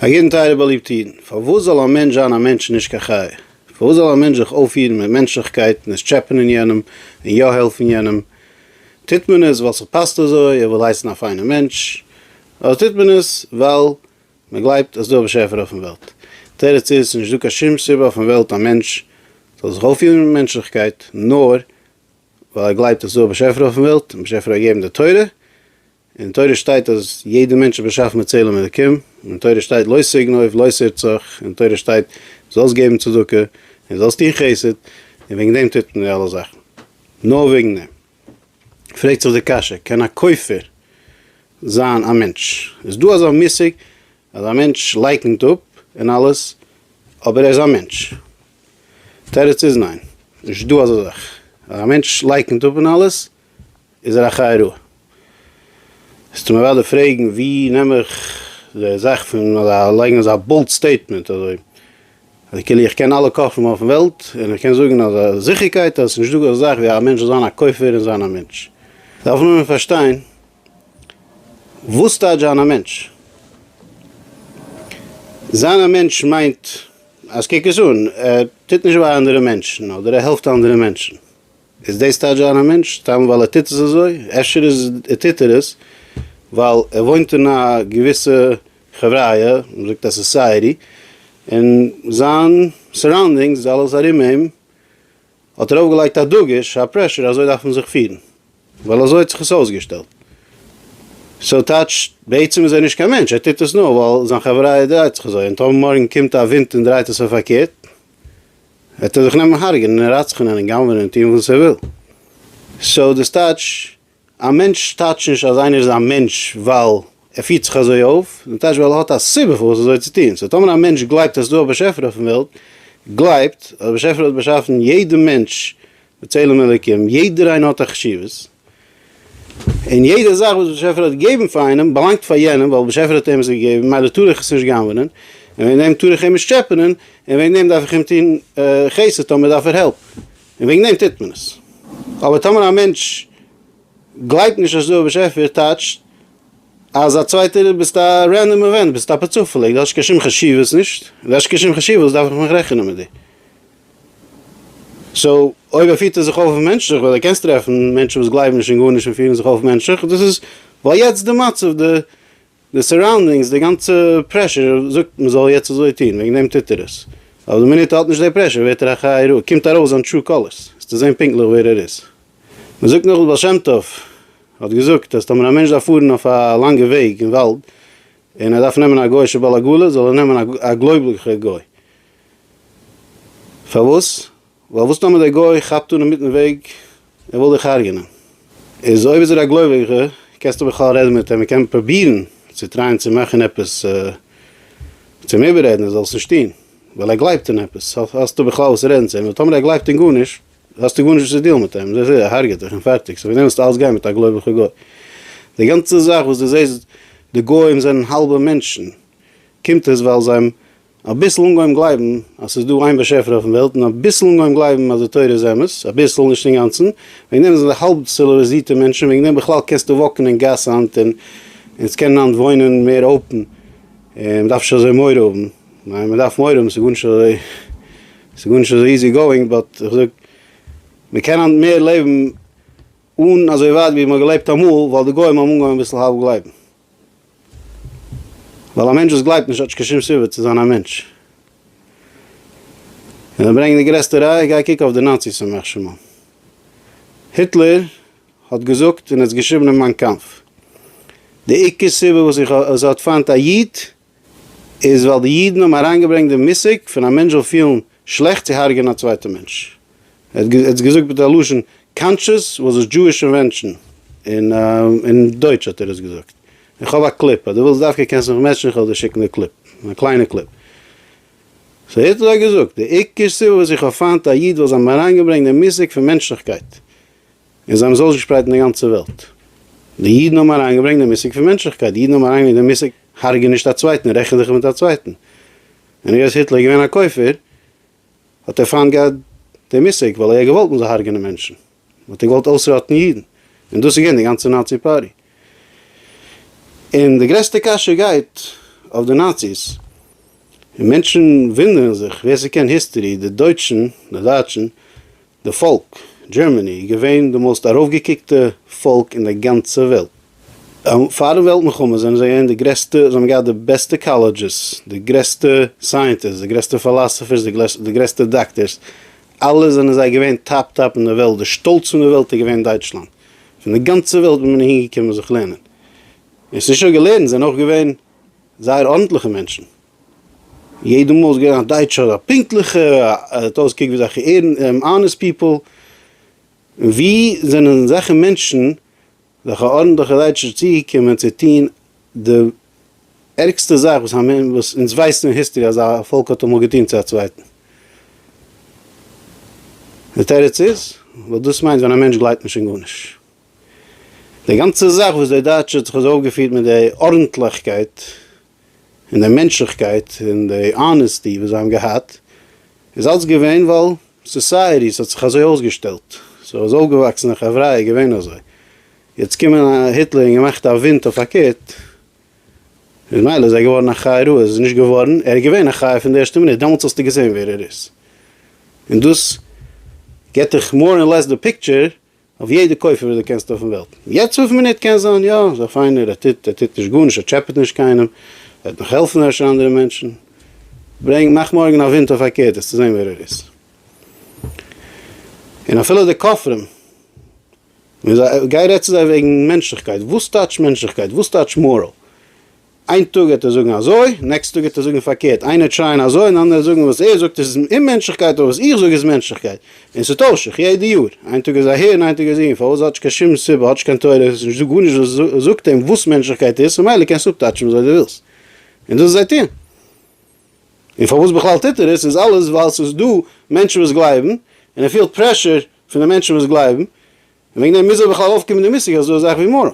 א יעדן טייערע באליבט אידן, פארוואס זאל א מענטש זיין א מענטש און נישט קיין חיה? פארוואס זאל א מענטש זיך אויפפירן מיט מענטשליכקייט און עס טשעפענען יענעם און יא העלפן יענעם? טוט מען עס ווייל ס'פאסט אזוי, ער וויל הייסן א פיינער מענטש, אדער טוט מען עס ווייל מען גלייבט אז ס'דא א באשעפער אויפן וועלט? דער תירוץ איז, ס'איז נישטא קיין שום סיבה אויפן וועלט א מענטש זאל זיך אויפפירן מיט מענטשליכקייט נאר ווייל ער גלייבט אז ס'דא א באשעפער אויפן וועלט און באשעפער האט געגעבן די תורה, אין תורה שטייט אז יעדע מענטש איז באשאפן מיט צלם אלקים, אין תורה שטייט לא תגנוב, לא תרצח, אין תורה שטייט זאלסט געבן צדקה, און זאלסט טון חסד, און וועגן דעם טוט מען די אלע זאכן, נאר וועגן דעם פרעגט זיך די קשיא, קען א כופר זיין א מענטש? איז דא אזא מושג אז א מענטש לייקנט אפ און אלעס אבער ער איז א מענטש? תירוץ איז ניין, נישט דא אזא זאך אז א מענטש לייקנט אפ און אלעס איז ער א חי רעה. ס'טאר מען וואלע פרעגן ווי נעם איך די זאך פון לייגן אזא בולט סטעיטמענט אזוי אז כאילו איך קען אלע כופרים אויפן וועלט און איך קען זאגן אז זיכערקייט אז ס'נישט דא אזא זאך ווי א מענטש זאל זיין א כופר און זיין א מענטש. דארף נאר מען פארשטיין וואס טייטש זיין א מענטש. זיין א מענטש מיינט אז קוק עס אן ער טוט נישט וויי אנדערע מענטשן אדער ער העלפט אנדערע מענטשן. איז דאס טייטש זיין א מענטש סתם ווייל ער טוט עס אזוי? אפשר איז ער טוט ער עס ווייל ער וואוינט אין א געוויסע חבריא, מ'זאגט א סאסייעטי, און זיין סאראונדינגס אלעס ארום אים האט ארויף געלייגט א דגוש א פרעשור אזוי דארף מען זיך פירן ווייל אזוי האט זיך עס אויסגעשטעלט. סאו טייטש בעצם איז ער נישט קיין מענטש ער טוט עס נאר ווייל זיין חבריא דרייט זיך אזוי און טאמער מארגן קומט א ווינט און דרייט עס אויף פארקערט, וועט ער זיך נעמען הרג'נען און רצח'נען און גנב'ענען און טון וואס ער וויל. סאו דאס טייטש, א מענטש טייטש נישט אז איינער איז א מענטש ווייל ער פירט זיך אזוי אויף, דאס טייטש ווייל ער האט א סיבה פארוואס אזוי צו טון. סאו טאמער א מענטש גלייבט אז ס'איז דא א באשעפער אויפן וועלט, גלייבט אז דער באשעפער האט באשאפן יעדע מענטש בצלם אלוקים, יעדער איינער האט א חשיבות, און יעדע זאך וואס באשעפער האט געגעבן פאר איינעם באלאנגט פאר יענעם ווייל באשעפער האט אים עס געגעבן ממילא טאר איך עס נישט גנב'נען און וועגן דעם טאר איך אים נישט טשעפענען און וועגן דעם דארף איך אים טון חסד טאמער דארף ער העלפ און וועגן דעם טוט מען עס אבער טאמער א מענטש גלייבט נישט אז ס'דא א באשעפער טייטשט אז א צווייטער ביסט א רענדאם אווענט ביסט אפער צופעליג דו האסט קיין שום חשיבות נישט ווען דו האסט קיין שום חשיבות וואס דארף איך מיך רעכענען מיט דיר. סאו אויב ער פירט ער זיך אויף מענטשליך, ווייל דו קענסט טרעפן מענטשן וואס גלייבן נישט אין גארנישט און פירן זיך אויף מענטשליך, דאס איז ווייל יעצט די מצב, די די סאראונדינגס, די גאנצע פרעשור זאגט מען זאל יעצט אזוי טון, וועגן דעם טוט ער עס. אבער די מינוט ער האט נישט די פרעשור ווערט ער א חיה רעה, קומט ארויס זיין טרו קאלערס, וועסטו זען פונקטליך ווער ער איז. מען זאגט נאך די בעל שם טוב האט געזאגט אז טאמער א מענטש דארף פארן אויף א לאנגע וועג אין וואלד און ער דארף נעמען א גוי'שע בעל עגלה זאל ער נעמען א גלויבליכע גוי, פארוואס? ווייל וואס טאמער דער גוי כאפט אן אינמיטן וועג ער וויל דיך הרג'נען? איז אויב איז ער א גלויביגע קענסטו בכלל רעדן מיט אים און קען פרובירן צו טרייען צו מאכן עפעס צו אים איבעררעדן ער זאל עס נישט טון ווייל ער גלייבט אין עפעס האסטו בכלל וואס צו רעדן צו אים ווייל טאמער ער גלייבט אין גארנישט האסטו גארנישט וואס צו דילן מיט אים ער הרג'עט דיך און פארטיג סאו פארדעם ווילסטו אלץ גיין מיט א גלויביגע גוי? די גאנצע זאך וואס דו זעסט די גוים זענען האלבע מענטשן קומט עס ווייל זיי אביסל אנגעהויבן גלייבן אז ס'איז דא איין באשעפער אויפן וועלט, און אביסל אנגעהויבן גלייבן אז די תורה איז אמת, אביסל, נישט אינגאנצן, וועגן דעם זענען זיי האלב ציליוועזירטע מענטשן, וועגן דעם בכלל קענסטו וואקן אין גאס היינט און אונז קענען היינט וואוינען מער אופן, און מ'דארף נישט אזוי מורא האבן, ניין מ'דארף מורא האבן, ס'איז גארנישט אזוי, ס'איז גארנישט אזוי איזי גאואינג, באט איך זאג, מ'קען היינט מער לעבן אן אזוי ווייט ווי מ'האט געלעבט אמאל, ווייל די גוים האבן אנגעהויבן אביסל האלב גלייבן. ווייל א מענטש וואס גלייבט נישט האט נישט קיין שום סיבה צו זיין א מענטש. און זיי ברענגען די גרעסטע ראיה, גיי קוק אויף די נאציס ימח שמם. היטלער האט געזאגט און עס געשריבן אין מיין קאמף, די עיקר סיבה וואס איך האב, אז ער האט פיינט א איד, איז ווייל די אידן האבן אריינגעברענגט די מושג פון א מענטש זאל פילן שלעכט צו הרג'ענען א צווייטע מענטש, ער האט עס געזאגט מיט א לשון קאנטשעס וואס איז דזשואיש אינווענשאן, און אין דויטש האט ער עס געזאגט, איך האב א קליפ, אז דו ווילסט דווקא קענסט מיך מעטשן, איך וועל דיר שיקן די קליפ, א קליינע קליפ. סאו היטלער האט געזאגט, די עיקר סיבה וואס איך האב פיינט א איד ווייל זיי האבן אריינגעברענגט די מושג פון מענטשליכקייט, און זיי האבן עס אויסגעשפרייט אין די גאנצע וועלט. די אידן האבן אריינגעברענגט דעם מושג פון מענטשליכקייט, די אידן האבן אריינגעברענגט דעם מושג הרג'ע נישט א צווייטן, רעכן זיך מיט א צווייטן. און היות היטלער איז געווען א כופר, האט ער פיינט געהאט דעם מושג, ווייל ער האט געוואלט מען זאל הרג'ענען מענטשן. מען האט געוואלט אויסראטן אידן. און דאס איז געווען די גאנצע נאצי פארטי. און די גרעסטע קשיא גייט אויף די נאציס. און מענטשן וואונדערן זיך, ווער ס'קען היסטארי, די דויטשן, די דייטשן, די פאלק, דזשערמעני איז געווען די מאוסט ארויפגעקוקטע פאלק אין די גאנצע וועלט. פארן וועלט מלחמה זענען זיי געווען די גרעסטע, זיי האבן געהאט די בעסטע קאלעדזשעס, די גרעסטע סייענטיסטס, די גרעסטע פילאסעפערס, די גרעסטע דאקטערס, אלעס זענען זיי געווען טאפ טאפ אין די וועלט, די שטאלץ פון די וועלט איז געווען דייטשלאנד, פון די גאנצע וועלט איז מען אהין געקומען זיך לערנען, און עס איז נישט נאר געלערנט, זיי זענען אויך געווען זייער ארנטליכע מענטשן. יעדע מאל איז געווען א דייטשער א פונקטליכער, ער האט אויסגעקוקט ווי אזעלכע אנעסט פיפל, און ווי זענען אזעלכע מענטשן, אזעלכע ארנטליכע דייטשער צוגעקומען צו טון די ערגסטע זאך וואס אונז ווייסן אין היסטערי אז א פאלק האט אמאל געטון צו א צווייטן? די תירוץ איז ווייל דאס מיינט ווען א מענטש גלייבט נישט אין גארנישט. די גאנצע זאך וואס די דייטשע האט זיך אזוי אויפגעפירט מיט די ארנטליכקייט. און די מענטשליכקייט און די אנעסטי וואס זיי האבן געהאט איז אלץ געווען ווייל סאסייעטי ס'האט זיך אזוי אויסגעשטעלט, ס'איז אויפגעוואקסן א חברה איז געווען אזוי, יעצט קומען היטלער און געמאכט א ווינט אויף פארקערט איז מילא איז ער געווארן א חי רעה, איז נישט געווארן, ער איז געווען א חי פון די ערשטע מינוט, דעמאלטס האסטו געזען ווער ער איז, און דאס גיבט דיך מאר און לעס די פיקטשער אויף יעדע קויפער וואס דו קענסט אויפן וועלט. יעצט אויפן מינוט קען זיין יא, ס'איז א פיינער, ער טוט ער טוט נישט גארנישט, ער טשעפעט נישט קיינעם, ער וועט נאך העלפן אפשר אנדערע מענטשן. ברענג, מאך מארגן א ווינט אויף אקערדעס צו זען ווער ער איז. און אפילו די כופרים, גיי רעד צו זיי וועגן מענטשליכקייט, וואס טייטש מענטשליכקייט? וואס טייטש מאראל? איין טאג העט ער זאגן אזוי, נעקסט טאג העט ער זאגן פארקערט, איינער טרייען אזוי און אנדערע זאגן וואס ער זאגט איז אוממענטשליכקייט אבער וואס איך זאג איז מענטשליכקייט, און ס'טוישט זיך יעדע יאר, איין טאג איז אהער און איין טאג איז אהין, פארוואס האט נישט קיין שום סיבה, האט נישט קיין תורה, האט נישט דא גארנישט וואס זאגט אים וואס מענטשליכקייט איז, ממילא קענסטו אפטייטשן וויאזוי דו ווילסט, און דאס איז זיי טוען. און פארוואס בכלל טוט ער עס איז אלעס ווייל ס'איז דא מענטשן וואס גלייבן, און ער פילט פרעשור פון די מענטשן וואס גלייבן, און וועגן דעם מוז ער בכלל אויפקומען די מושג אז ס'איז דא אזאך ווי מאראל,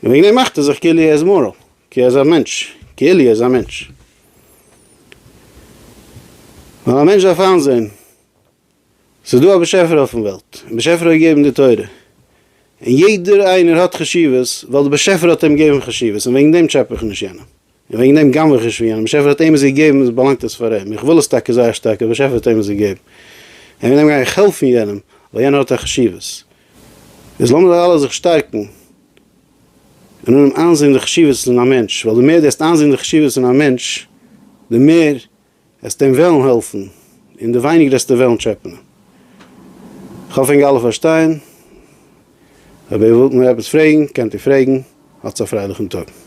און וועגן דעם מאכט ער זיך כאילו ער איז מאראל, כאילו ער איז א מענטש, כאילו ער איז א מענטש. ווייל א מענטש דארף איינזען, ס'איז דא א באשעפער אויפן וועלט, און באשעפער האט געגעבן די תורה, און יעדער איינער האט חשיבות, ווייל די באשעפער האט אים געגעבן חשיבות, און וועגן דעם טשעפע איך נישט יענעם. און וועגן דעם גנב'עך נישט פון יענעם, באשעפער האט אים עס געגעבן, איז באלאנגט עס פאר אים, איך וויל עס טאקע זייער שטארק, אבער באשעפער האט אים עס געגעבן, און וועגן דעם גיי איך העלפן יענעם, ווייל יענער האט א חשיבות. איז לאמיר זיי אלע זיך שטארקן, און אנהייבן איינזען די חשיבות אין א מענטש, ווייל די מער די עסט איינזען די חשיבות אין א מענטש, די מער עסטו אים וועלן העלפן, און די ווייניגער עסטו וועלן טשעפענען. איך האף ענק אלע פארשטייען. אויב איר ווילט נאר עפעס פרעגן, קענט איר פרעגן. האטס א פרייליכן טאג.